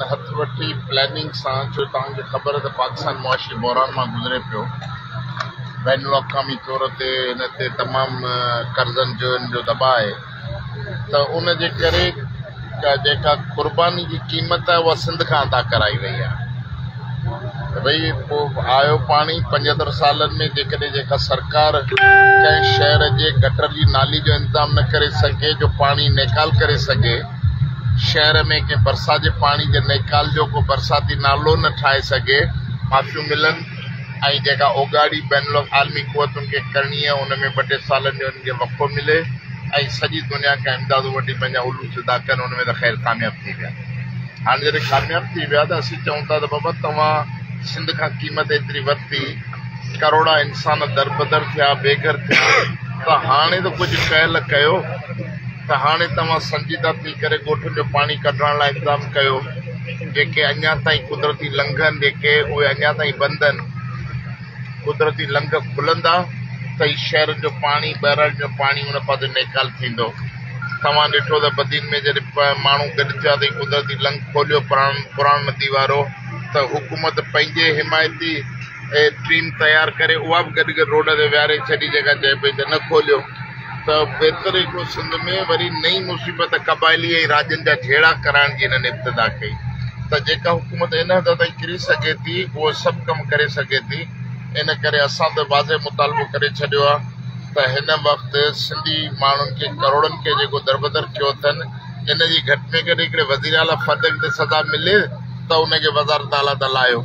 ان هٿ وٺي پلاننگ سان جو توهان کي خبر ته پاڪستان معاشي بحران مان گذري پيو بين الاقوامي طور تي هن تي تمام قرضن جون جو دٻاء آهي ته ان جي ڪري جيڪا قرباني جي قيمت آهي اها سنڌ کان ادا ڪرائي وئي آهي ته ڀئي پوء آيو پاڻي پنجهتر سالن ۾ جيڪڏهن جيڪا سرڪار ڪنهن شهر جي گٽر جي نالي جو انتظام نه ڪري سگهي جو پاڻي نيڪال ڪري سگهي شهر ۾ ڪنهن ڀرسان جي پاڻي جي نيڪال جو ڪو برساتي نالو نه ٺاهي سگهي، معافيون ملن ۽ جيڪا اوڳاڙي بين العالمي قوتن کي ڪرڻي آهي ان ۾ ٻه ٽي سالن جو انهن کي وقفو ملي ۽ سڄي دنيا کان امدادون وٺي پنهنجا علوص ادا ڪن ان ۾ ته خير ڪامياب ٿي ويا. هاڻ جڏهن ڪامياب ٿي ويا ته اسين چئون ٿا ته بابا توهان سنڌ کان قيمت ايتري ورتي، ڪروڙها انسان دربدر ٿيا، بيگهر ٿيا ته هاڻي ته ڪجهه ڪهل ڪيو. ته هاڻي توهان سنجيده ٿي ڪري ڳوٺن جو پاڻي ڪڍرائڻ لاء انتظام ڪيو، جيڪي اڃا تائين قدرتي لنگهن جيڪي اهي اڃا تائين بند آهن، قدرتي لنگهه کلندا ته ئي شهرن جو پاڻي، ٻهراڙين جو پاڻي ان پاسي نيڪال ٿيندو. توهان ڏٺو ته بدين ۾ جڏهن ماڻهو گڏ ٿيا ته ئي قدرتي لنگهه کوليو پراڻ ندي وارو ته حڪومت پنهنجي حمايتي ٽيم تيار ڪري اها به گڏ گڏ روڊ تي ويهاري ڇڏي جيڪا چئي پئي ته نه کوليو. ته بهتر هي ڪو سنڌ ۾ وري نئين مصيبت قبائلي ۽ راڄن جا جهيڙا ڪرائڻ جي هنن ابتدا ڪئي ته جيڪا حڪومت هن حد تائين ڪري سگهي ٿي اهو سڀ ڪم ڪري سگهي ٿي ان ڪري اسان ته واضح مطالبو ڪري ڇڏيو آهي ته هن وقت سنڌي ماڻهن کي ڪروڙن کي جيڪو دربدر ڪيو اٿن ان جي گهٽ ۾ گهٽ هڪڙي وزيراعليٰ فرد کي ته سزا ملي ته ان کي وزارت اعليٰ تان لاهيو